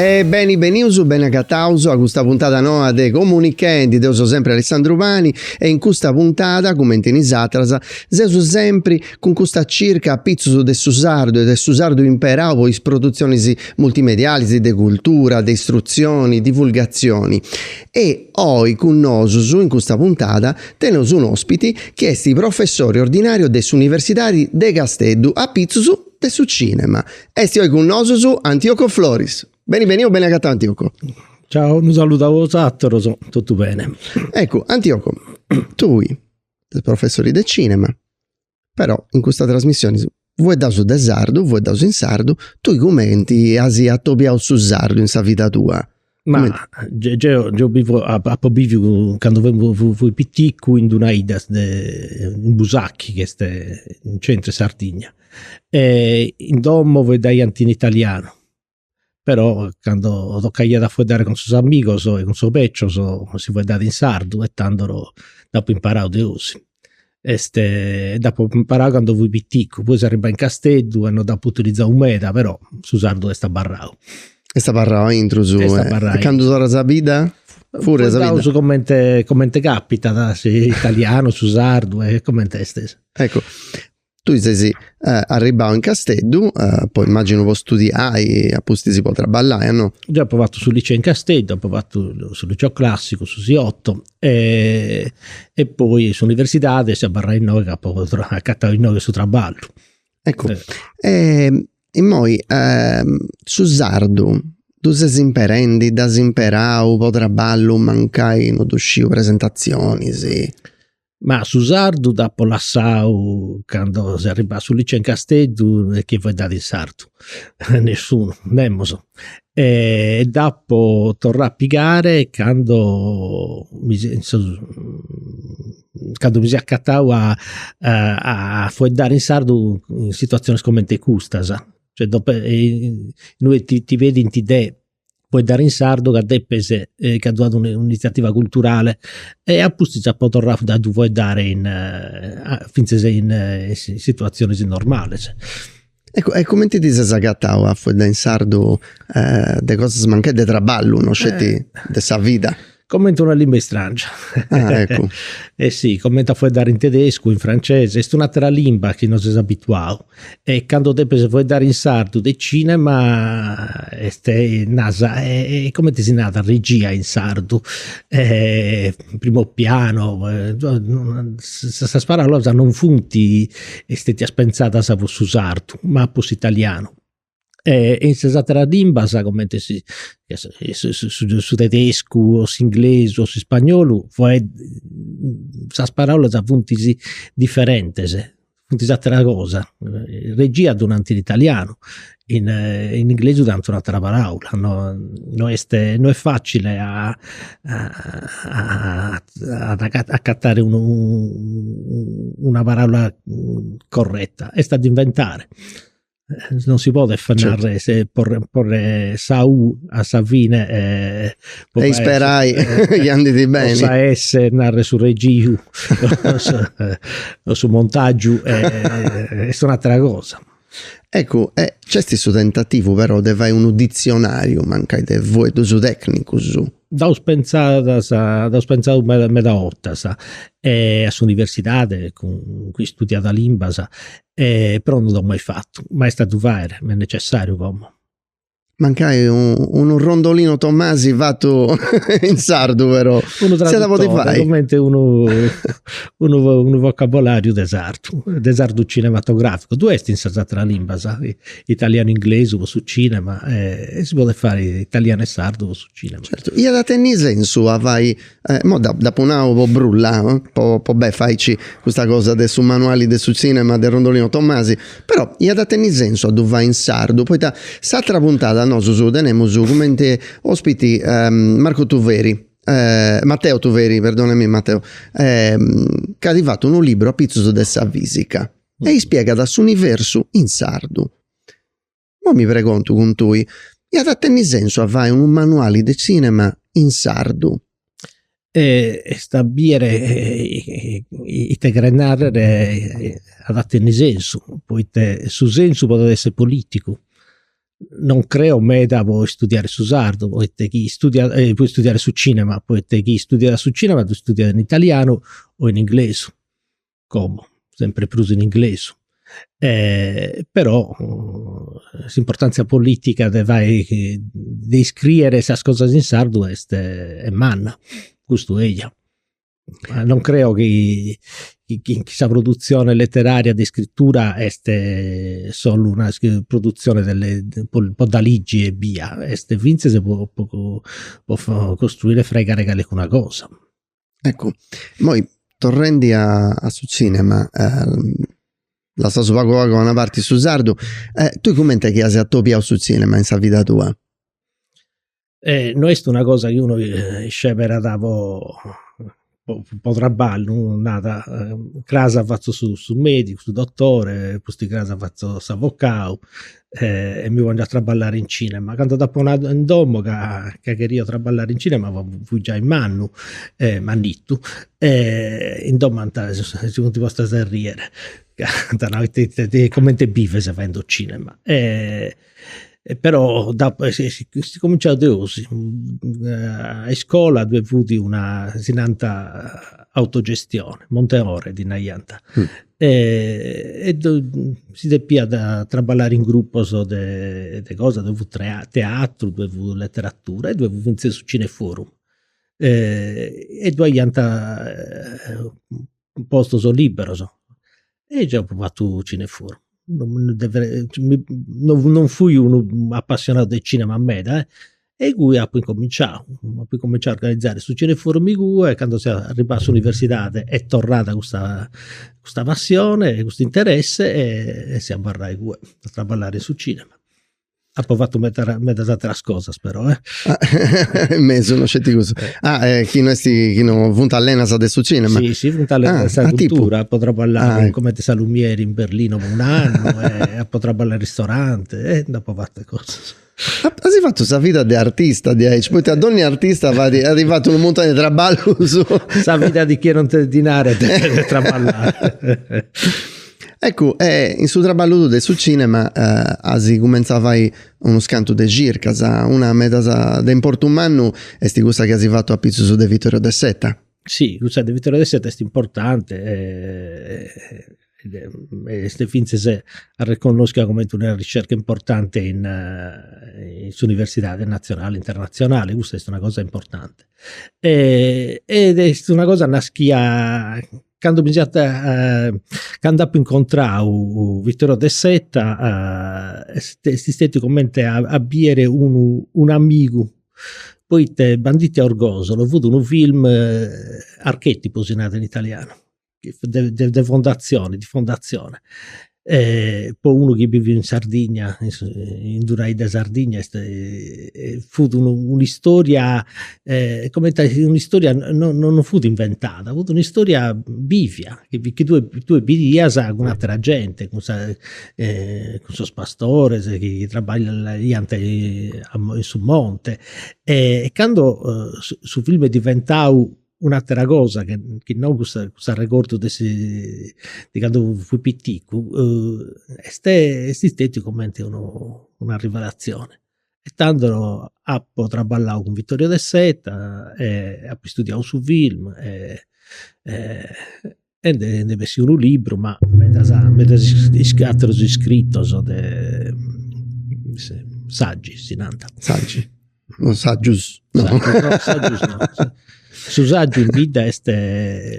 E beni benius, beni agataus a custa puntada noa de Comunichendi, deu so sempri Alessandru Pani e in custa puntada, cumenti in is atras, seus sempri cun custa circa a pitzus de su sardu e de su sardu imperau po is produtzionis multimedialis, de cultura, de istrutzioni, divulgatzioni. E oi cun nosus, in custa puntada, teneus un'ospiti chi est professori ordinariu de s'Universidadi de Casteddu, a pitzus, de su cinema. Esti oi cun nosus Antioco Floris. Beni beniu, beni agatau Antioco. Ciao, unu saludu a bosatoros, totu bene. Eccu, Antioco, tui ses professori de cinema, però in custa trasmissioni fueddaus de sardu, fueddaus in sardu, tui cumenti asi atobiau su sardu in sa vida tua? Ma geo, geo bivo, apo biviu, cando fui, fui piticu, in d'una idda de, in Busacchi, chi est in centru 'e Sardigna, e in domo faeddaiant in italianu, però cando tocaiat a faeddare cun sos amigos e cun sos becios si faeddàt in sardu e tando dd'apo imparau de 'osi est dd'apo imparau candu fui piticcu, poi seu arribai in Casteddu e non dd'apu utilizau meda, però su sardu est abarrau. Est abarrau aintru su Est abarrau aintru. E candu torras a bidda? Puru a bidda. Fueddaus comenti comenti capitat, s'italianu, su sardu e comenti est. Eccu Tui ses arribbau in Casteddu po immaginu po studiai a pustis po trabballai a no? Deu apu fatu su liceu in Casteddu, apu fatu su liceu classicu, su Siotto e poi s'universidadi seu abarrau innoi ca apu agatau innoi su trabballu. Eccu e immoi su sardu ddu ses imperendi, dd'as imperau po trabballu mancai no ddu sciu, presentazionis? Ma su sardu dd'apu lassau candu seu arribau a su liceu in Casteddu e chi faeddàt in sardu, nessunu, nemos. E dd'apu torrau a pigai candu mi candu mi seu acatau a a faeddare in sardu in situazionis cumenti custas. Cioè, dopo, inue ti pedint de Foeddare in sardu ca depis ca ddu at un'initziativa culturale e a pustis apu torrau a ddu faeddare fintzas in situatzionis normalis. E cumenti ti ses agatau a faeddai in sardu de cosas mancai de traballu, no sceti de sa vida? Comente una limba istràngia. Ah, eccu. E si, comente a fueddare in tedescu, in francese, est un'àtera limba chi no ses abituau. E candu depes fueddare in sardu de cinema est, naras, e comente si narat regia in sardu, primo piano, sas paraulas non funt stetias pentzadas pro su sardu ma pro s'italianu. e in sas ateras limbas comente si su tedescu o s'inglesu o s'ispagnolu faeddu sas paraulas funt diferentes funt atera cosa regia ddu nant in italianu in in inglesu nant un'atera paraula no no est no est facile a acatare unu una paraula corretta est a ddu inventare non si podet fai certo. narrer porre, porre sa U a sa fine e, e isperai chi andit bene. Sa S narrer su regiu o su montagiu est un'atera cosa. Eccu, e nc'est su tentativu però de fai unu ditzionariu mancai de fueddus tecnicus. Dd'aus pentzadas, dd'aus pentzau meda meda 'ottas e a s'universidadi cun cun chi istudiat limbas E però no dd'amus mai fatu, mai est a ddu fai, m'est necessariu como. Mancai unu Rondolino Tomasi fatu in sardu però. Unu traduttore, cumenti unu unu vocabolariu de sardu, de sardu cinematograficu, ddu est in sas ateras limbas, italianu inglesu po su cinema e si podit fai italianu e sardu po su cinema. Certu, iat a tenni sensu a fai Eh, mo d'apu nau po brullai, po po beni faici custa cosa de su manuali de su tzìnema de Rondolino Tomasi, però iat a tenni sensu a ddu fai in sardu, poita s'atra puntada nosus tenemus cumenti ospiti Marco Tuveri, Matteo Tuveri, perdonami Matteo, ca at fatu unu liburu apitzus de sa fisica e ispiegat s'universu in sardu. mo mi pregontu cun tui, iat a tenni sensu a fai unu manuali de cinema in sardu? Est a biere ite cheret narrer at a tenni sensu, poita su sensu podet esser politicu, non creo meda po istudiare su sardu, poita chi istudiat, po istudiare su cinema, poita chi istudiat su cinema ddu istudiat in italianu o in inglesu como sempre prus in inglesu però s'importantzia politica de fai de iscriere sas cosas in sardu est manna, custu eia. Non creo chi chi sa produtzione letteraria de iscritura est solu una produtzione de po dda ligi ebbia, est fintzas po costruire e fraigare calincuna cosa Eccu, immoi torrendi a a su cinema, lassaus pagu pagu a una parti su sardu, tui cumenti chi as atobiau su cinema in sa vida tua? No est una cosa chi unu sceberat po po traballu, narat, cras fatzu su medicu, su dotore, pustis cras fatzu s'avocau e mi pongiu a traballare in cinema, candu dd'apu nau in domu ca ca cheria traballare in cinema po fui giai mannu e mannittu e in domu ant si funt postas a riere ca ant nau, ita cumenti bives fadendi su cinema, però dd'apu est cuminciau de osi, a iscola ddue fut una, si nant autogestione, monte ore ddi naiant e si depiat traballare in grupos de de cosa, ddue fut teatru, ddue fut leteratura e ddue fut fintzas su cineforum. E ddue aiant postos liberos e geo apu fatu cineforum. Non fui unu apassionau de cinema meda e igue apu incominciau, apu incominciau a organizare su cineforum igue e candu seu arribau a s'universidadi est torrada custa custa passioni e custu interessi e seu abarrau igue a traballai in su cinema. Apu fatu meda medas ateras cosas però eh. In mesu no sceti cussu. Ah e chi no est, chi no funt allenas de su cinema. Si si funt allenas de sa cultura, apu traballau cumenti salumieri in Berlino po un'annu e apu traballau in ristoranti e nd'apu fatas cosas As fatu sa vida de artista diaici, poita donni artista fait, at fatu unu muntoni de traballus. Sa vida di chie non tenet dinari e devet traballai. Eccu, e in su traballu tuu de su cinema as cumenzau a fai unus cantus de circas, una medas de importu mannu est cussa chi as fatu apitzus de Vittorio De Seta. Si, cussa de Vittorio De Seta est importanti est fintzas arreconnoschia comente una ricerca importante in in s'universidade natzionale e internatzionale, custa est una cosa importante e ed est una cosa naschia cando mi siant cando apu incontrau Vittorio De Seta est est istetiu comente a a biere unu un'amigu poita Banditi a Orgosolo fut unu film archetipu si narat in italianu de fondatzioni, de fondatzioni, po unu chi biviu in Sardigna, in d'una 'idda 'e Sardigna est fut un'istoria comente a essiri un'istoria non non fut inventada, fut un'istoria bivia, chi tue tue bidias cun atera gente, cun sa cun sos pastores chi traballaiant in su monte e cando su filmu est diventau Un'atera cosa che chi no cuss'arregordu de de candu fui piticu est est istètiu cumenti unu una rivelatzioni e tando apu traballau cun Vittorio De Seta e apu istudiau su film e e nd'est bessiu unu libru ma medas medas aterus iscritos de Sàgius si nant, sàgius, no sàgius no sàgius no, su sàgiu in bidda est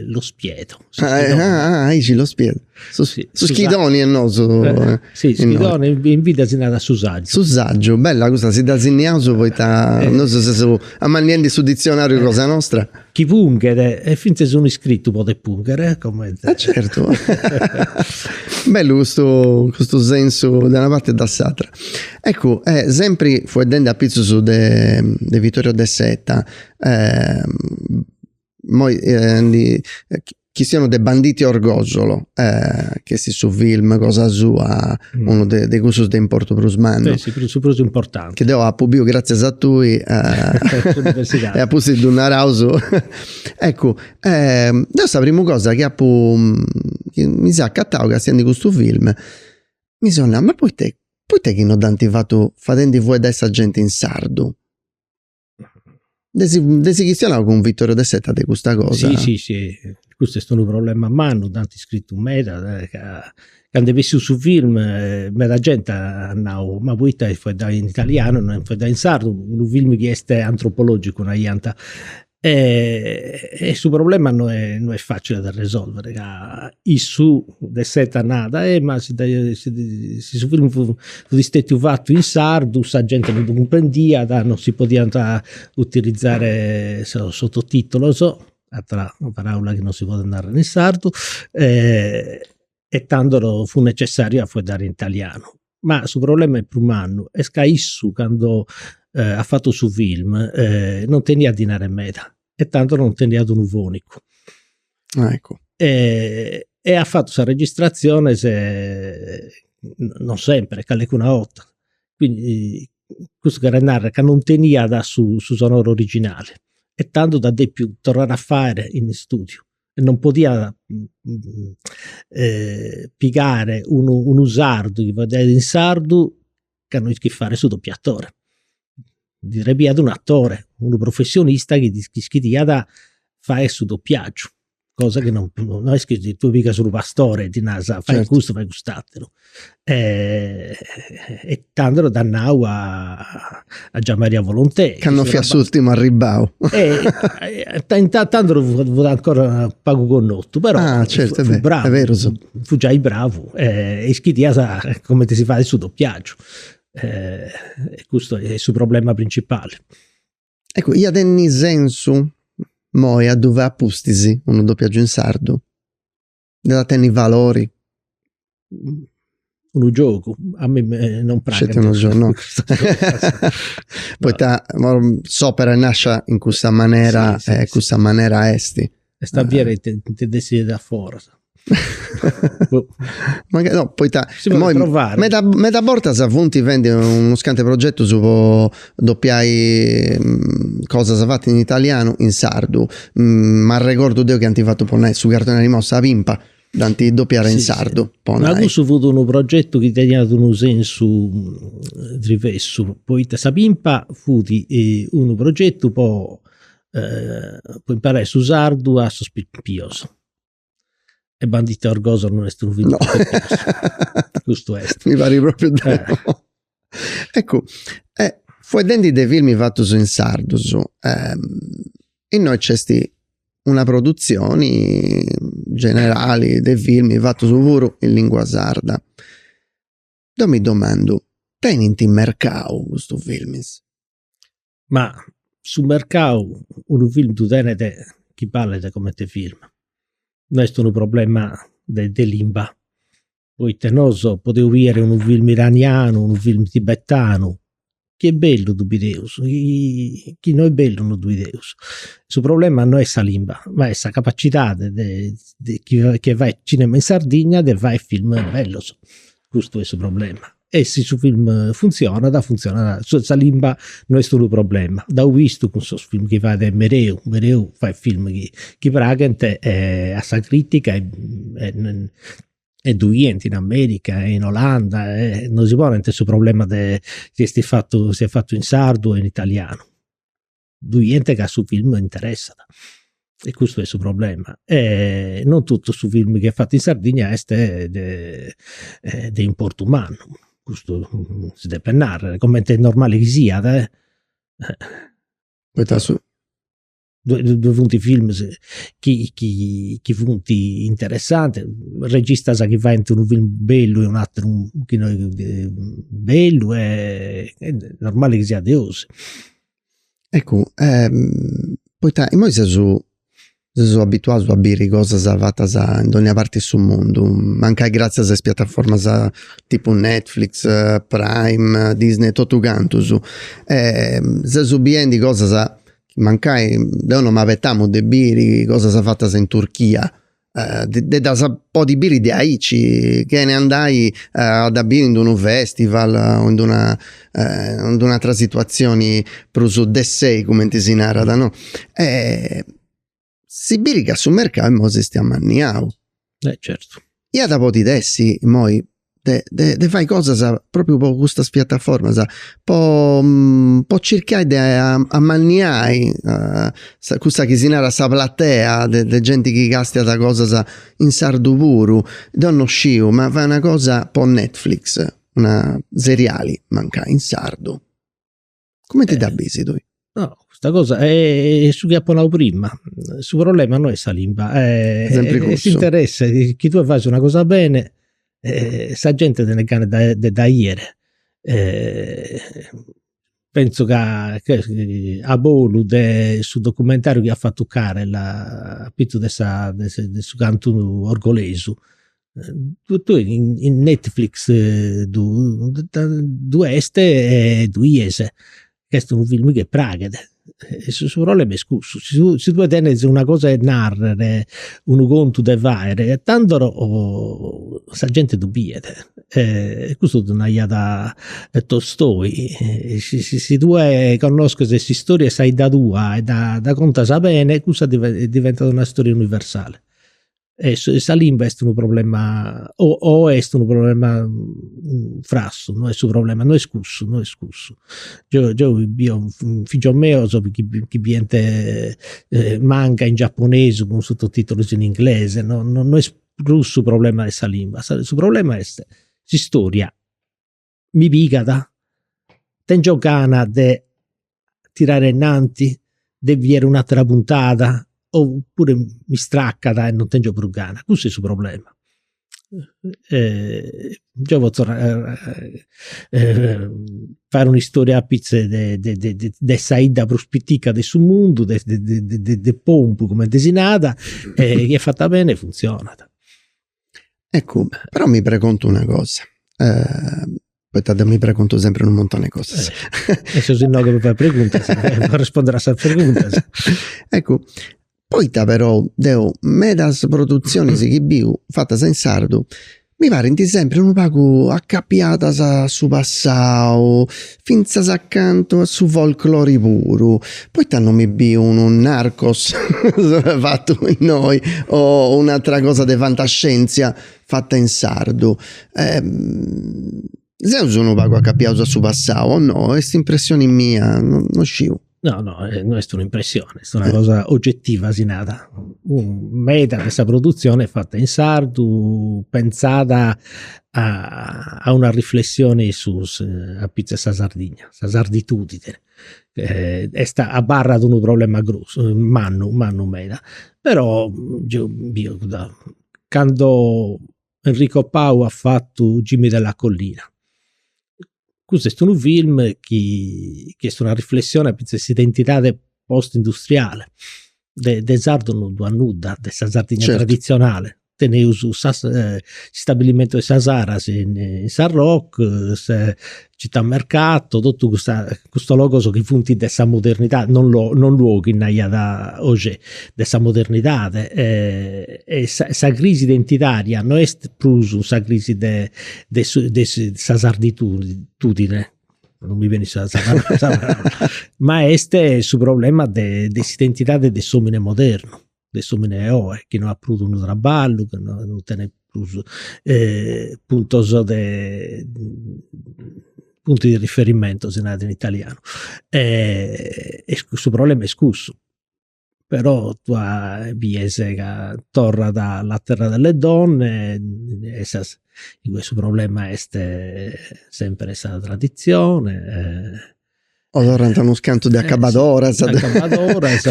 lo spiedo, ahi si lo spiedo, su schidoni est nosu, si schidoni in bidda si narat su sàgiu, su sàgiu bella custa si dda sinniaus poita nosu seus amanniendi su ditzionariu cosa nostra chi punghet e fintzes unu iscritu podet pungher comente. Eh certu. Bellu custu custu sensu de una parte e da s'atra. Eccu, e sempri fueddende apitzus de de Vittorio De Seta, imoi ndi chistionaus de Banditi a Orgòsolo chi est su film cosa sua unu de de cussus de importu prus mannu. Est su su prus importanti. Chi deu apu biu gratzias a tui e a pustis ddu naraus. Eccu deu sa primu cosa chi apu chi mi seu acatau castiendu custu film mi seu nau ma poita poita chi no dd'ant fatu fadendi fueddai sa genti in sardu Nd'eis nd'eis chistionau cun Vittorio De Seta de custa cosa. Si si si, custu est unu problema mannu, dd'ant scritu meda ca, candu est bessiu su film meda genti at nau, ma poita est faeddau in italianu e no est faeddau in sardu, unu film chi est antropologicu naiant, e su problema no est facili a ddu resolvere ca issu De Seta narat e ma si si su filmu fut istetiu fatu in sardu sa genti non ddu cumprendiat non si podiant utilizare sos sototitolos atera paraula chi non si podet narrer in sardu e tando fut necessariu a fueddare in italianu ma su problema est prus mannu, est ca issu cando at fatu su film non teniat dinari meda e tando non teniat unu fonicu e at fatu sas registratziones non sempre, calecuna 'orta, quindi custu cheret narrer ca non teniat su sonoro originale e tando dd'at depiu torrare a fai in istudiu non podiat pigare unu unu sardu chi faeddat in sardu ca no ischit fare su dopiatore, ddi srebiat un' atore, unu professionista chi ddi ischiriat fai su dopiagiu, cosa chi no est chi tui pigas unu pastore e ddi naras fai custu fai cust'ateru e tando dd'at nau a a Gian Maria Volontè. Ca non fiat s'ùrtimu arribbau. tando fut ancora pagu connotu, però fut bravu, fut giai bravu e ischidiat cumenti si fait su dopiàgiu. E custu est su problema principali. Eccu, iat a tenni sensu, moi ddu fai a pustis unu dopiàgiu in sardu. Dd'at a tenni valori. Unu giogu, a mi non praxit. Poita s'opera est nàscia in cussa manera e cussa manera est. Est a bier ita nti dessiat foras. Poita meda bortas funt fendi unus cantu 'e progetus po Dopiai cosas fatas in italianu in sardu m'arregordu deu chi ant fatu po nai su cartoni animau Sa Pimpa dd'ant dopiada in sardu po nai. Ma cussu fut unu progetu chi teniat unu sensu diversu poita Sa Pimpa fut unu progetu po po imparai su sardu a sos pipios E Banditi a Orgosolo non est unu filmu no. Custu est. Mi parit propriu de eh. no. Eccu, eh, fueddendi de filmi fatus in sardu, eh, innoi nc'est una produtzioni generali de filmi fatus puru in lingua sarda. Deu mi domandu, tenint mercau custus filmis? Ma su mercau unu film ddu tenet chi balet comente film, no est unu problema de de limba, poita nosu podeus bider unu film iranianu, unu film tibetanu, chi est bellu ddu bideus, chi no est bellu no ddu bideus, su problema no est sa limba, ma est sa capacidadi de de chi fait cinema in Sardigna de fai film bellus, custu est su problema e si su film funtzionat, funtzionat, sa limba no est unu problema, dd'eus bistu cun sos film chi fait Mereu, Mereu fait film chi praghent a sa critica e ddu 'ient in America e in Olanda e non si ponent su problema de si est fatu si est fatu in sardu o in italianu ddu 'ient ca su film interessat e custu est su problema e non totu su film chi est fatu in Sardigna est de de importu mannu, custu si depet narrer, coment'est normali chi siat poita ddoi funt films chi chi funt interessantis, registas chi faint unu film bellu e unu ateru chi no est bellu e est normali chi siat de 'osi Eccu poita imoi seus seus abituaus a biri cosas fatas in dónnia parti 'e su mundu, mancai gratzias a is piataformas tipu Netflix, Prime, Disney e totu cantus. Seus biendi cosas chi mancai deu non m'abetamu de biri cosas fatas in Turchia Eh, de ddas podi biri de aici, chene andai a ddas biri in d'unu festival o in d'una in d'un'atera situazioni prus de sei cumenti si narat no, e si biit ca su mercau immoi s'est ammanniau. E certu. Iat a podi essi immoi de de de fai cosas propriu po custas piattaformas, po po circai de amanniai cussa chi si narat sa platea de de genti chi castiat cosas in sardu puru, deu no sciu, ma fai una cosa po Netflix, una seriali mancai in sardu Cumenti dda bisi tui? No, custa cosa est su chi apu nau prima, su problema no est sa limba, est s'interessu chi tue fais una cosa bene e sa gente tenit gana de dda 'iere. Pentzu ca a bortas de su documentariu chi at fatu Carel apitzu de sa de su cantu orgolesu E tue in Netflix ddu est e ddu 'ies, est unu filmu chi praxit, su problema est cussu, si tue tenes una cosa 'e narrer, unu contu de faer, e tando sa genti ddu biet, e custu ddu naraiat Tolstoi, si tue connosches s'istòria 'e sa 'idda tua e dda contas bene cussa diventat una istoria universale e sa limba est unu problema o o est unu problema mm frassu, no est su problema, no est cussu, no est cussu. Geo geo bio figios meos chi chi bient manga in giaponesu cun sototitulus in inglese, no no est prus su problema de sa limba, su problema est s'istoria mi pigat, tèngio gana de tirare innanti, de bier un'atera puntada, opuru m'istracat e non tèngio prus gana, cussu est su problema. Geo potzo faer un'istoria apitzus de de de sa 'idda prus pitica de su mundu, de de de Pompu comente si narat, chi est fata beni e funtzionat Eccu, però mi pregontu una cosa, poita deu mi pregontu sempri unu muntoni 'e cosas. E seus innoi po fai preguntas, po arrespondiri a sas preguntas. Eccu, poita perou deu medas produtzionis chi biu fatas in sardu mi parint sempri unu pagu acapiadas a su passau fintzas acantu a su folklori puru, poita non mi biu unu Narcos fatu innoi o un'atera cosa de fantascientzia fata in sardu. Seus unu pagu acapiaus a su passau o no, est impressioni mia, no sciu No, no, eh, no est un'impressione, est una cosa oggettiva, si nada. Meda de sa produzione fatta in sardu, pensada a, a una riflessione a pitzus de sa Sardigna, sa sarditudine. Eh, est abarrat unu problema grossu, mannu, mannu meda. Però, geu, biu, cando Enrico Pau at fatu Jimmy della Collina. Custu est unu film chi est una riflessione fintzas de s'identidade post industriale de de sardu non ddu at nudda de sa Sardigna traditzionale, teneus s'istabilimentu 'e sa Saras in Sarroch, Città Mercato, totu custa, custos logos chi funt de sa modernidadi, non lo non luoghi naraiat Augé, de sa modernidadi e sa sa crisi identitaria no est prus sa crisi de de su de sa sarditudine, tudine, non mi benit sa sa ma est su problema de de s'identidadi de s'omine modernu de s'omine 'e oe chi no at prus unu traballu, chi no no tenet prus puntos de punti di riferimento si narat in italianu e su problema est cussu, però tue bies ca torrat La terra delle donne e igue su problema est sempre sa traditzione O torrant unus cantu de acabadoras. Eh sì, acabadoras.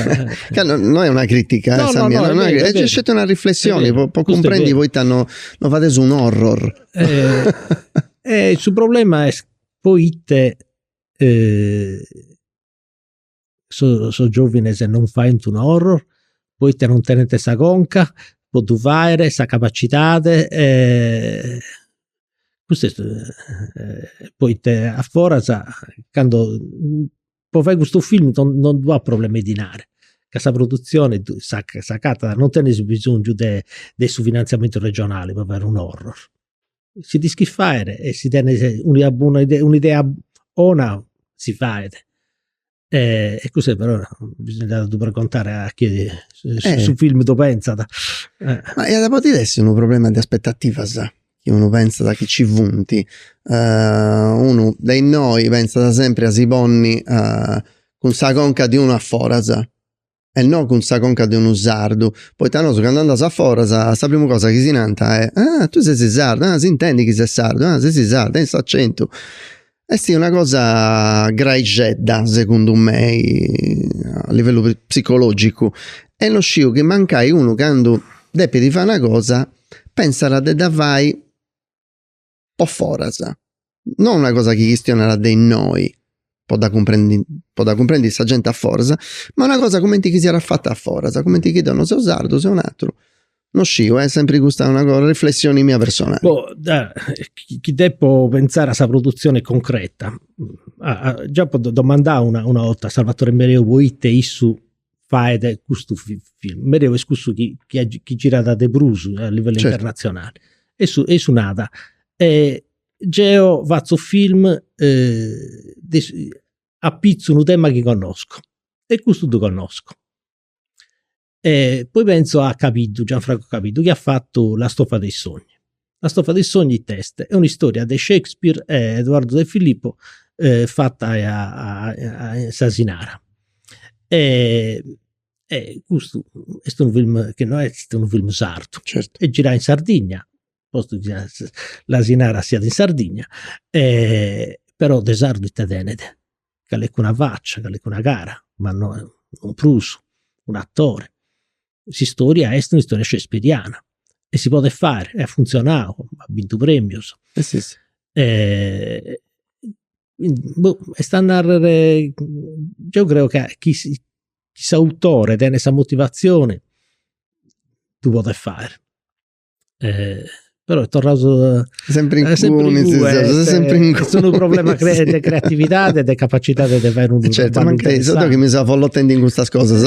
Ca no no est una critica eh sa mia, no no no, est sceti una riflessioni po po cumprendi poita no no fadeus un horror. Su problema est poite sos sos giovines non faint un horror, poita non tenent sa conca po ddu faghere, sa capacidade custu est poita a foras candu, po fai custu film no ddu at problemas de dinari, ca sa produtzioni s'agatat, non tenis bisongiu de su finantziamentu regionali po fai unu horror. Si d'ischis fairi e si tenis una idea bona si fait E cussa però bisogna ddu pregontare a chie su film ddu pentzat. Ma iat a podi essi unu problema de aspettativas, chi unu pentzat chi ci funt, unu de innoi pentzat sempri a si ponni cun sa conca de unu a foras, e no cun sa conca de unu sardu, poita nosu candu andaus a foras sa prima cosa chi si nant est, ah tui sesi sardu, ah s'intendi chi ses sardu, ah sesi sardu, tenit s'acentu. Est una cosa graixedda segundu mei a livellu psicologicu e no sciu chi mancai unu candu depit fai una cosa pensat de dda fai po foras, no una cosa chi chistionat de innoi po dda cumprendi po dda cumprendi sa genti a foras, ma una cosa cumenti chi siat fata a foras, cumenti chi deu non seu sardu, seu un'ateru, no sciu, est sempri custa una cosa, una riflessioni mia personali. Po da chi depo pentzai a sa produtzioni concreta, già apu domandau una 'orta a Salvatore Mereu poita issu faet custu film, Mereu est cussu chi chi girat de prus a livellu internatzionali. E issu nat geo fatzu film de apitzu a unu tema chi connoscu e custu ddu connoscu. Poi pentzu a Cabiddu, Gianfranco Cabiddu chi at fatu La stoffa dei sogni La stoffa dei sogni ite est? Est un'istoria de Shakespeare e Eduardo De Filippo fata in s'Asinara e custu est unu film chi no est unu film sardu, est girau in Sardigna, postu chi s'Asinara siat in Sardigna e però de sardu ite tenet, calincuna facia, calincuna cara ma no prus, un'atore s'istoria est un'istoria shakespeariana e si podet fai e at funtzionau, at bintu premius. Boh, est a narrer, deu creu ca chi s'autore tenet sa motivatzioni ddu podet fai però est torraus sempri inguni, est unu problema de creatividadi e de capacitadi de fai unu traballu interessanti. Certu, mancai seu deu chi mi seu avolotendi in custas cosas.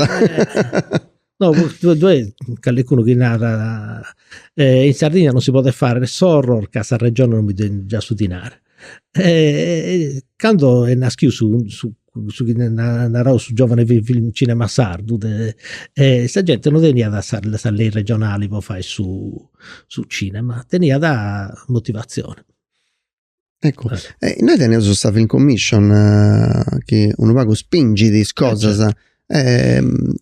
No, ddoi est calincunu chi narat, in Sardigna non si podet fai s'horror ca sa Regioni non mi ddu giat su dinari. Cando est naschiu su su su chi narant su giovane film cinema sardu de sa genti non teniat sa sa lei regionali po fai su su cinema, teniat motivazioni. Eccu nois teneus sa film commission chi unu pagu spingit is cosas,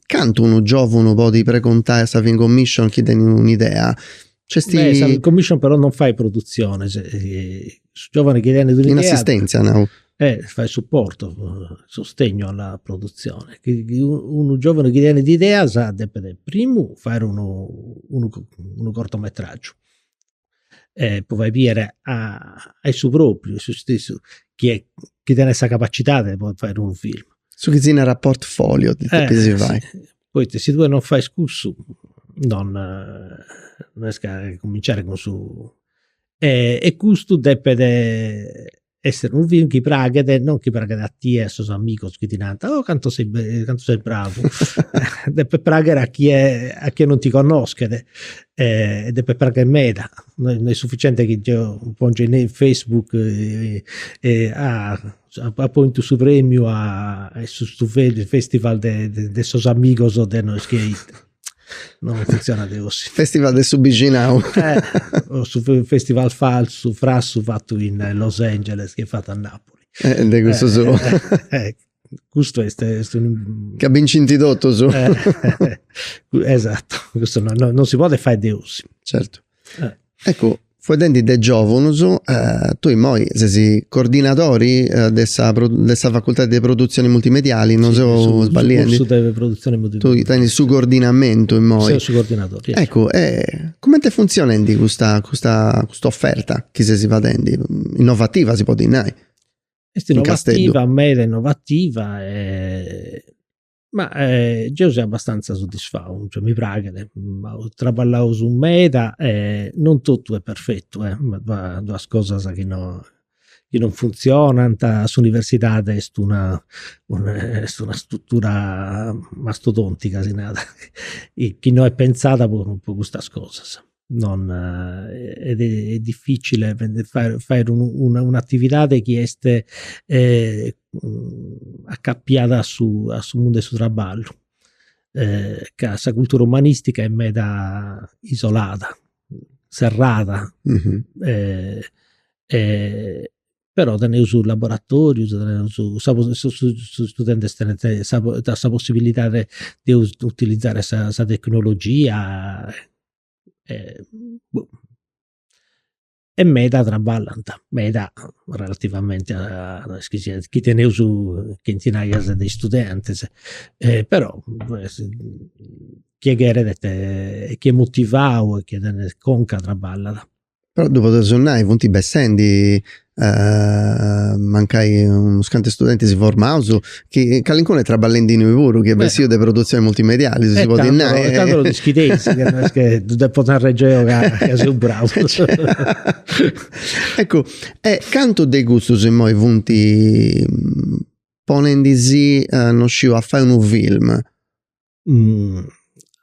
cantu unu giovunu podit preguntai a sa film commission chi tenit un'idea Beh, sa commission però non fait produtzionis, su giovani chi tenit un'idea, in assistentzia nau, eh fait supportu, sostegnu a sa produtzioni, unu giovani chi tenit ideas depet primu fai unu cortometragiu e po fai bier a issu propriu, a issu stessu, chi est, chi tenit sa capacidadi de podiri fai unu film. Su chi si narat portfolio depit si fai Poita si tue non fais cussu non non est ca cuminciare cun su e custu depet esser unu film chi praghet non chi praghet a tie e a sos amigos chi ti narant oh cantu ses cantu ses bravu depet pragher a chie a chie non ti connoschet e depet pragher meda, no est sufficiente chi deo pongiu in in Facebook ah Apo bintu su premiu a custu festival de sos amigos de nois chi no funtzionat de gosi. Festival de su bixinau. O su festival falsu, frassu fatu in Los Angeles chi est fatu a Napoli. De cussu sou. Custu est est unu. Ca bincinti totus. Esatto, custu non si podit fai de gosi. Certu. Eccu, fueddendi de giovunus, tui immoi sesi cordinadori de sa de sa facultadi de produtzioni multimediali, no seu sballiendi? Su cursu de produtzioni multimediali. Tui tenis su cordinamentu immoi. Seu su cordinadori. Eccu, e cumenti est funtzionendi custa custa custa oferta chi sesi fadendi? Innovativa si podit nai. Est innovativa, meda innovativa e Ma geu seu abbastanza soddisfau, cioè mi praxit, apu traballau meda e non totu est perfetu, b'at duas cosas chi no chi non funtzionant, s'universidadi est una est una struttura mastodontica, si narat, chi no est pentzada po custas cosas non est est difficile fai fai un'atividade chi est acapiada a su a su mundu 'e su traballu ca sa cultura umanistica est meda isolada, serrada però teneus laboratorius, teneus is studentis tenint sa sa possibilidadi de utilizare sa sa tecnologia e boh e meda traballant, meda relativamenti a is chi seus, chi teneus chentinaias de studentis, però chie cheret e chie est motivau e chie tenit conca traballat Però ddu podeus nai, funt bessendi mancai unus cantu studentis formaus chi calincunu est traballendi innui puru chi est bessiu de produtzionis multimedialis, si si podit nai. Tando ddu schideis ca no est chi ddu depu narri deu ca seu brau. Eccu, e cantu de custus immoi funt ponendisì, non sciu, a fai unu film?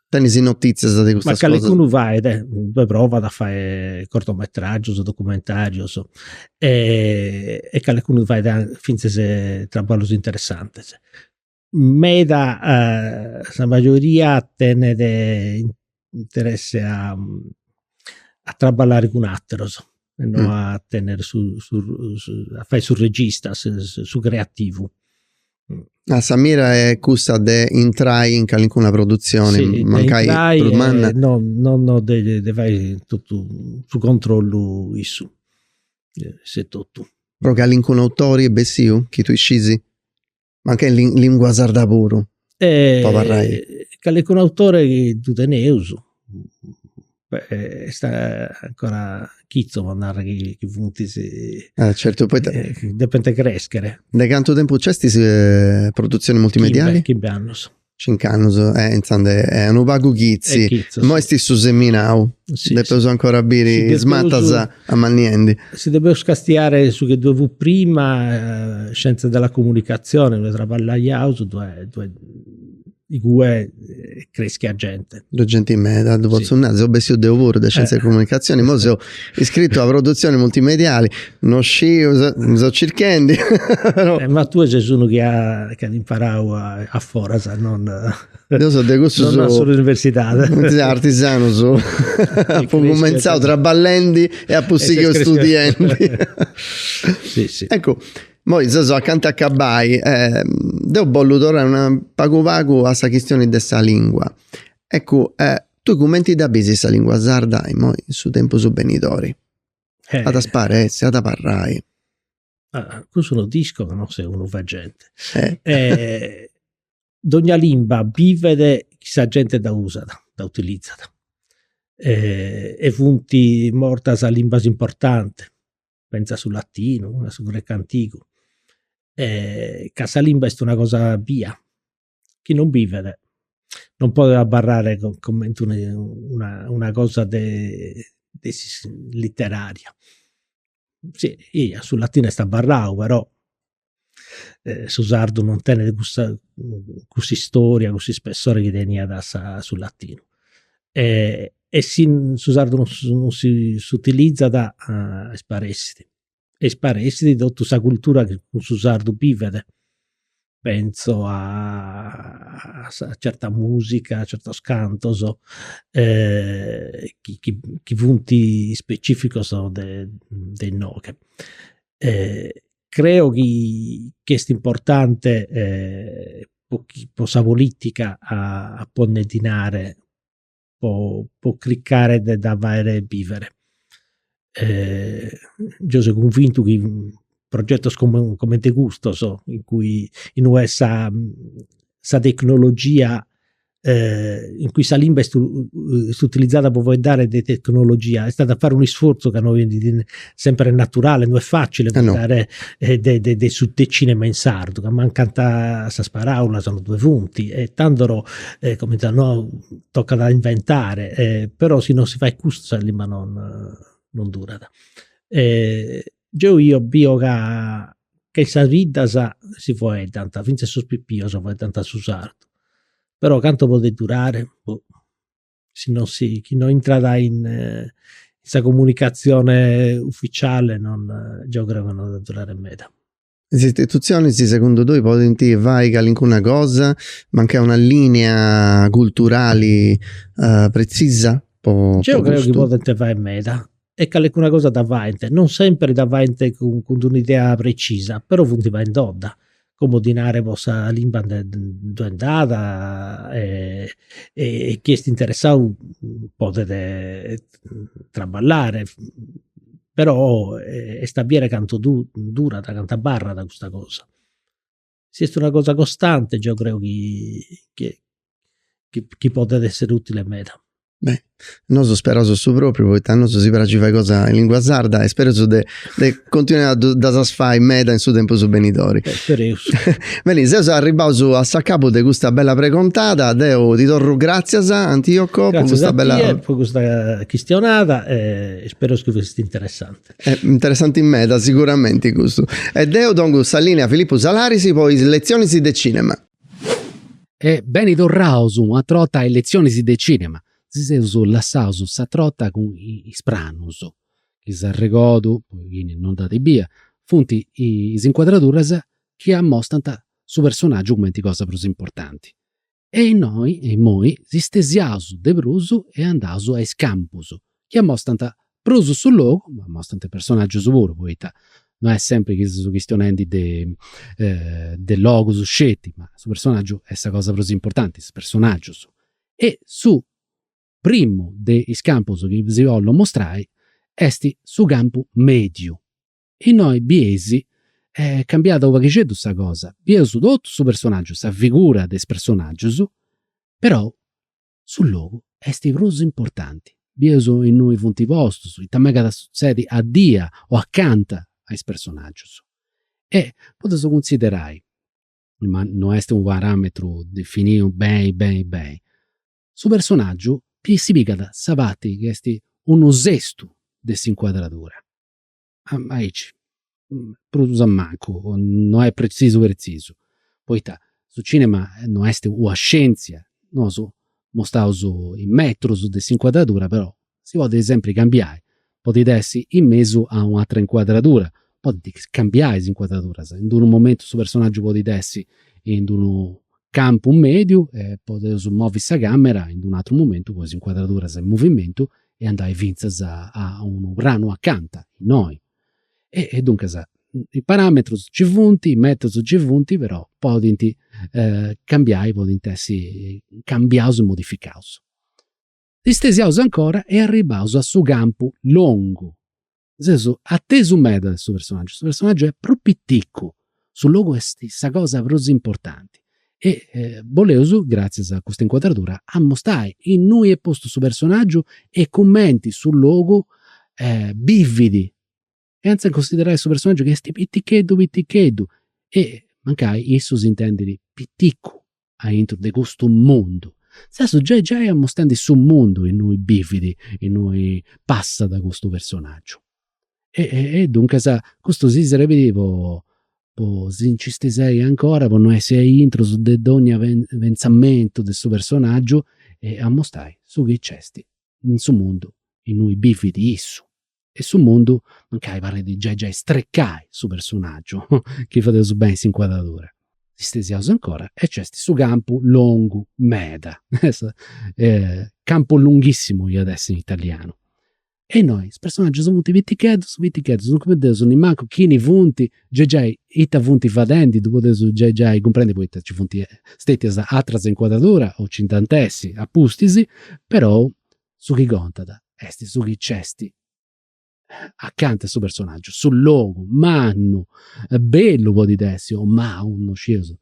tenis notitzias de custas cosas? Ma calincunu fait, ddoe provat a fai cortometragius, documentarius e calincunu fait fintzas traballus interessantis. Meda sa majoria tenet interesse a a traballare cun ateros e no a tenere su a fai su regista, su creativu. Ah sa mira est cussa de intrai in calincuna produtzioni, mancai prus manna. Si, de intrai e no no de fai totu su controllu issus etotu. Però calincunu autori est bessiu chi tui scis? Mancai in lin- lingua sarda puru. E po abarrai. Calincunu autore chi ddu teneus, est ancora chitzu po narri chi funt is. Eh certu, poita. Depint crescher. De cantu tempus nc'est is produtzionis multimedialis? Chimbe annus. Cincu annus e intzandus est unu pagu chitzi. Est chitzu, Imoi est su seminau. Si, si. Depeus ancora a biri Si depeus- is matas amanniendi. Si depeus castiai su chi ddoi fut prima, scienze della comunicazione, ddoi traballaiaus, ddoi ddoi igue creschiat genti. Ddoi est genti meda, ddu potzu nai, seu bessiu deu puru de scienze della comunicazione, imoi seu Iscritu a produtzioni multimediali, no sciu, seu circhendi però. Ma tue ses unu chi at imparau a foras, non. Deu seu de cussus. Non a s'universidadi. Cussus artisanus. Apu cumenzau traballendi e apu sighiu studiendi. Si si. Eccu, moi seus acanta 'e acabai, deu bollu torrai pagu pagu a sa chistioni de sa lingua. Eccu, Tui cumenti dda bisis sa lingua sarda immoi in su tempus benidori? Eh. At a sparessi, at a abarrai. Ah, cussu no dd'isco ca no seu unu vegente. Eh. Eh, dogna limba bivet chi sa genti dda usat, dda utilizat. Eh, e funti mortas limbas importantis, pentza a su latinu, a su grecu antigu. Eh, ca sa limba est una cosa bia, chi non bivet non podet abarrare comente una cosa de litteraria, si eia su latinu est abarrau però su sardu non tenet custa cussa istoria, cussa ispessore chi teniat sa su latinu e si su sardu non si s'utilizat isparessit e isparessit totu sa cultura chi cun su sardu bivet, pentzo a certa musica, a certos cantos chi funt specificos de de inoghe. Creo chi est importante po sa politica a pònnere dinare po cricare de dda faghere bivere. Geo seo cunvintu chi progetos comente custos in cui inue est sa sa tecnologia in cui sa limba est utilizada po faeddare de tecnologia est a faere un'isfortzu ca no est sempre naturale, no est facile foeddare de, de, de, su, de cinema in sardu, ca mancant sas paraulas, non due funti, e tandoro, eh, come dice, no, tocat a inventare, eh, però si non si faet custu sa limba non, non durat. Eh, geo io bio ca, ca in sas biddas si foeddant, finzas sos pipios foeddant su sardu, però cantu podet durare, boh. si non si chi no intrat in eh, sa comunicatzione ufficiale non geo creo chi no at a durare meda. Is istitutzionis segundu tui podint fai calincuna cosa, mancai una lìnia culturali pretzisa po Geu creu chi podint fai meda, e calecuna cosa dda faent, non semper dda faent cun d'un'idea precisa, però funt faindodda, como dinare po sa limba nde ddu nd'at e chi est interessau podet traballare, però est a biere cantu durat, cantu abarrat custa cosa si est una cosa costante geo creo chi chi podet essere utile meda. Beh, nosu speraus su propriu poita a nosu si praxit fai cosa in lingua sarda e speraus de de continuai a ddu ddas as fai meda in su tempus benidori. Spereus. Beni, seus arribbaus a s'acabu de custa bella pregontada, deu ti torru gratzias Antioco po custa bella. Gratzias a tie po custa chistionada e spereus chi fut interessante. Interessanti meda siguramenti custu. E deu dongu sa lìnea a Filippu Salaris po is letzionis de cìnema. E beni torraus un'atr'orta a is letzionis de cìnema. Si seus lassaus s'atr'orta cun is pranus, chi s'arregodu, po chini non dd'at bia, funt is incuadraduras chi amostant su personàgiu cumenti cosa prus importanti. E innoi e immoi si stesiaus de prus e andaus a is campus, chi amostant prus su logu, ma amostant is personaggius puru, poita non est sempri chi seus chistionendi de de logus sceti, ma su personaggiu est sa cosa prus importanti, is personaggius. E su primu de is campus chi si bollu mostrai est su campu mediu, Innoi bieis est cambiada u paghixeddu sa cosa, bieus totu su personaggiu, sa figura de is personaggius, perou su logu est prus importanti, bieus innui funt postus, ita megat a sutzedi addia o acanta a is personaggius. E podeus cunsiderai, ma no est u parametru definiu beni beni beni, su personaggiu si pigat sa parti chi est unu sestu de s'incuadradura. aici, prus a mancu, no est pretzisu pretzisu, poita su cinema no est una scientzia, nosu mostaus is metrus de s'incuadradura, però si podit sempri cambiai, podit essi in mesu a un'atera incuadradura, podint cambiai is incuadraduras, in d'unu momentu su personaggiu podit essi in d'unu campu mediu e podeus movi sa camera in d'unu atru momentu po is incuadraduras in movimentu e andai finzas a unu pranu acanta innoi. E duncas is parametrus ci funt, is metrus ci funt, però podint cambiai, podint essi cambiaus e modificaus. Si stesiaus ancora e arribbaus a su campu longu. Seus atesu meda de su personaggiu, su personaggiu est prus piticu, su logu est sa cosa prus importanti e boleus, gratzias a custa incuadradura, ammustai innui est postu su personaggiu e cumenti su logu bividi chentz'e cunsiderai su personaggiu chi esti piticheddu piticheddu e mancai issu s'intendit piticu aintru de custu mundu. Intzà seus giai giai amustendi su mundu innui bividi, innui passat custu personaggiu. E duncas custu si serbidi po po si nci stesiai ancora po no essi aintrus de dogna pentzamentu de su personaggiu e amustai su chi nc'esti in su mundu innui bividi issu. e su mundu mancai parit giai giai strecai su personaggiu chi fadeus suberai in s'incuadradura. Stesiaus ancora e nc'est su campu longu meda, campo lunghissimo iat essi in italianu. E innoi is personaggius funt piticheddus piticheddus, non cumpredeus nemmancu chini funt, giai giai ita funt fadendi, ddu podeus giai giai cumprendi poita nci funt stetias ateras incuadraduras o nci nd'ant a essi apustis, però Su chi contat est su chi nc'est acanta de su personaggiu, su logu, mannu, bellu podit essi o mau, in cussu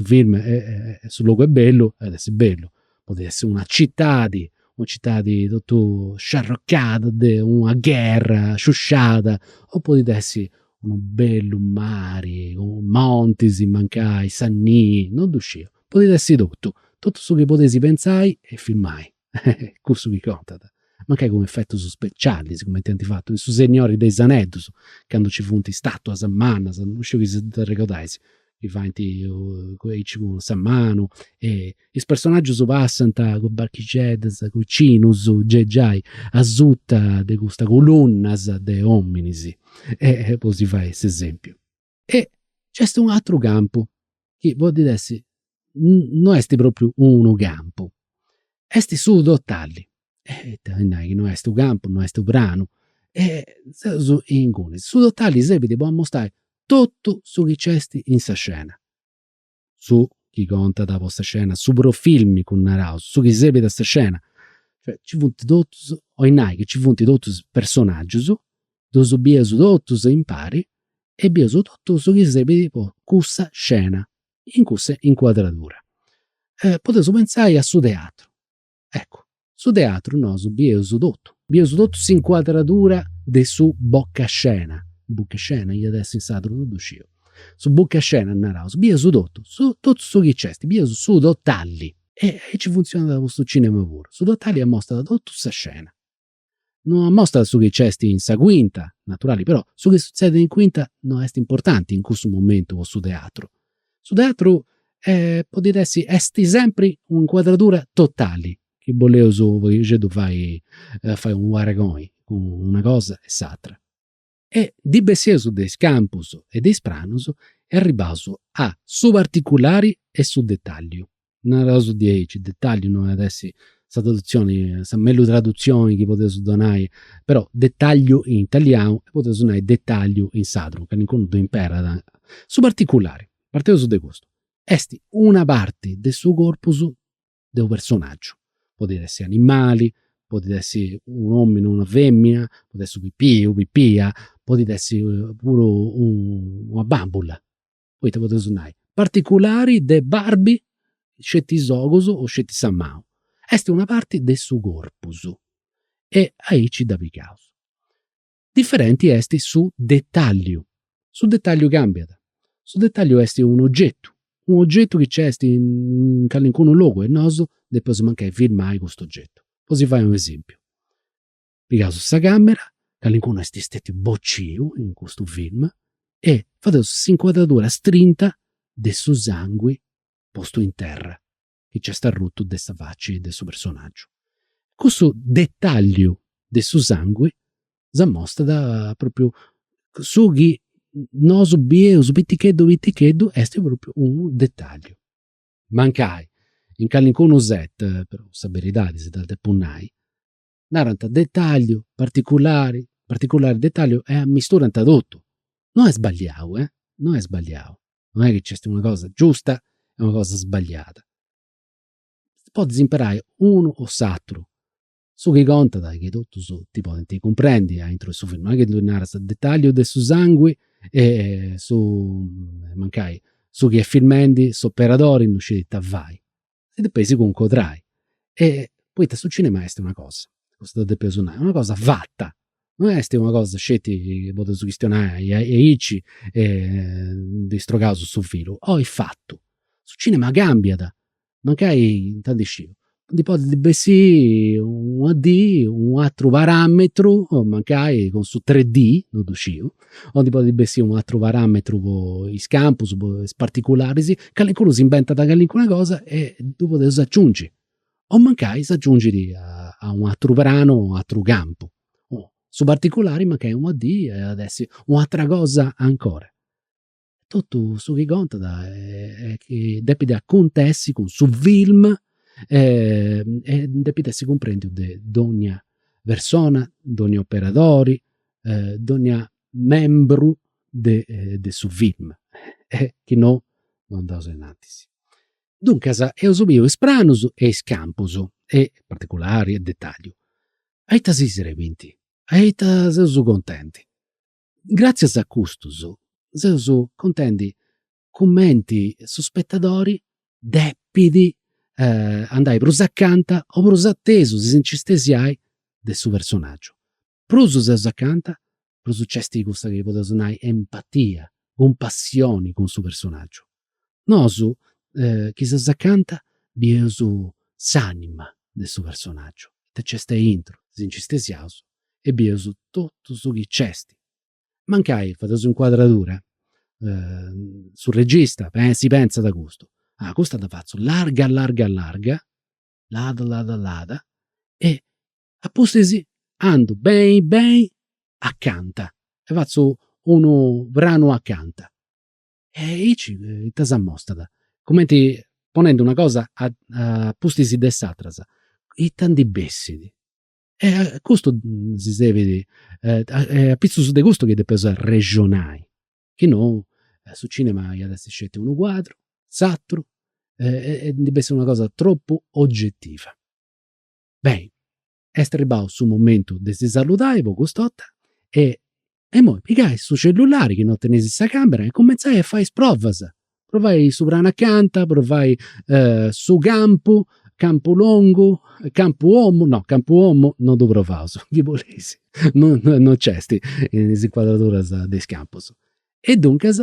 film chi su logu est bellu at essi bellu, podit essi una citadi, una citadi totu sciarrocada de una gherra sciusciada o podit essi unu bellu mari, montis mancai, sa nii, non ddu sciu Podit essi totu, totu su chi podeis pentzai e filmai, cussu chi contat, mancai cun efetus specialis, cumenti ant fatu in su Segnori de is aneddus, candu nci funt is statuas mannas, non sciu chi si dd'arregodais, chi faint aici cun sa manu e is personaggius passant cun is barchixeddas, cun is cinus, giai giai asuta de custas colunnas de ominis po si fai s'esempiu. E nc'est un'atru campu chi podit essi, no est propriu unu campu, est su totalli, est a nai chi no est u' campu, no est u' pranu e seus ingunis, su totalli serbit po ammustai totu su chi nc'est in sa scena. su chi contat po sa scena, su profilmicu naraus, su chi sebit a sa scena, cioè nci funt totus, 'oit nai chi nci funt totus is personaggius, ddus biaus totus impari e biaus totu su chi sebit po cussa scena, in cussa incuadradura. Podeus pentzai a su teatru, Eccu. Su teatru nosu bieus totu. Bieus totu s'incuadradura de su boccascena, buchescena iat essi in sardu, non ddu sciu. Su buchescena naraus, bieus totu, totu su chi nc'est, bieus su totalli. E aici funtzionat po su cinema puru. Su totalli amostat totu sa scena. No amostat su chi nc'est in sa cuinta, naturali però, su chi sutzedet in cuinta no est importanti in cussu momentu po su teatru. Su teatru podit essi, est sempri u' incuadradura totali, chi bolleus u' poghixeddu fai fai u' paragoni cun una cosa e s'atra. e ndi besseus de is campus e de is pranus e arribaus a su particulari e su dettagliu. Naraus diaici, dettagliu no at essi sa tradutzioni, sa mellus tradutzioni chi podeus donai, però dettagliu in italianu e podeus nai dettagliu in sardu, calincunu ddu imperat. Su particulari, parteus de custu, est una parti de su corpus de unu personaggiu, podit essi animali, podit essi u' omini o una femina, podit essi u' pipiu, u' pipia, podit essi puru una bambula, poita podeus nai, particulari de Barbie sceti is ogus o sceti sa manu. Est una parti de su corpus e aici dda pigaus. Diferenti est su detàlliu. Su detàlliu càmbiat. Su detàlliu est un'ogetu, un'ogetu chi nc'est in calincunu logu e nosu depus mancai filmai custu ogetu. Po si fai un'esèmpiu, pigaus sa càmera, calincunu est stetiu bociu in custu film e fadeus s'incuadradura strinta de su sangu postu in terra. chi nc'est arrutu de sa faci de su personàgiu. Cussu detàlliu de su sangu si mostrat pròpriu, su chi nosu bieus piticheddu piticheddu est pròpriu unu detàlliu. Mancai in calincunu set però, sa beridadi si dda depu nai, narant dettagliu, particulari, particulari dettagliu e ammisturant totu. No est sbagliau, eh, no est sbagliau, no est chi nc'est una cosa giusta e una cosa sbagliada. Podis imperai unu o s'aturu. Su chi contat est chi totus ti podint cumprendi aintru 'e su filmu, no est chi ddi naras dettagliu de su sangui e su, mancai, su chi est filmendi s'operadori non scit ita fai. si depeis cuncodrai. Poita su cinema est una cosa, custu ddu depeus nai, una cosa fata, non est una cosa sceti po ddas chistionai aici e ndi strogaus su filu, oi fatu. Su cinema cambiat, mancai, ita ndi sciu, ndi podit bessiri una dì u' ateru parametru, mancai cun su 3D, non ddu sciu, O ndi podit bessiri unu ateru parametru po is campus, po is particularis, calincunu s'imbentat calincuna cosa e ddu podeus aciungi. O mancai s'aciungit a u' ateru pranu o u' ateru campu. Su particulari mancai una dì at essi u' atera cosa ancora totu su chi contat est chi depit acontessi cun su film e depit essi cumprendiu de dogna persona, dogna operadori, dogna membru de su film e chi no no andaus innantis. Duncas eus biu is pranus e is campus e particulari e detalliu, aici si srebint, aici seus contendi. Gràtzias a custus seus contendi cumenti su spetadori depit andai prus acanta o prus atesu, e si nci stesiai, de su personaggiu. Prus seus acanta, prus nc'est cussa chi podeus nai empatia, cumpassioni cun su personaggiu. Nosu chi seus acanta bieus s'anima de su personaggiu, ita nc'est aintru, si nci stesiaus e bieus totu su chi nc'est. Mancai fadeus s'incuadradura, su regista si pentzat custu, ah custa dda fatzu larga larga larga, lada lada lada e a pustis andu beni beni acanta e fatzu unu pranu acanta. E aici ita s'amostat? Cumenti ponendi una cosa a pustis de s'àtera, ita ndi bessit? E custu si serbit, est apitzus de custu chi depeus arrexonai, chi no su cinema iat a essi sceti unu cuadru, s'àteru, e ndi bessit una cosa tropu ogetiva. Beni, Est arribau su momentu de si saludai po cust'orta e immoi pigai su cellulari chi no teneis in sa camera e cumentzai a fai is provas. Provai su pranu acanta, provai su campu, campu longu, campu omu, no campu omu no ddu provaus chi podeis, no nc'est in is incuadraduras de is campus. E duncas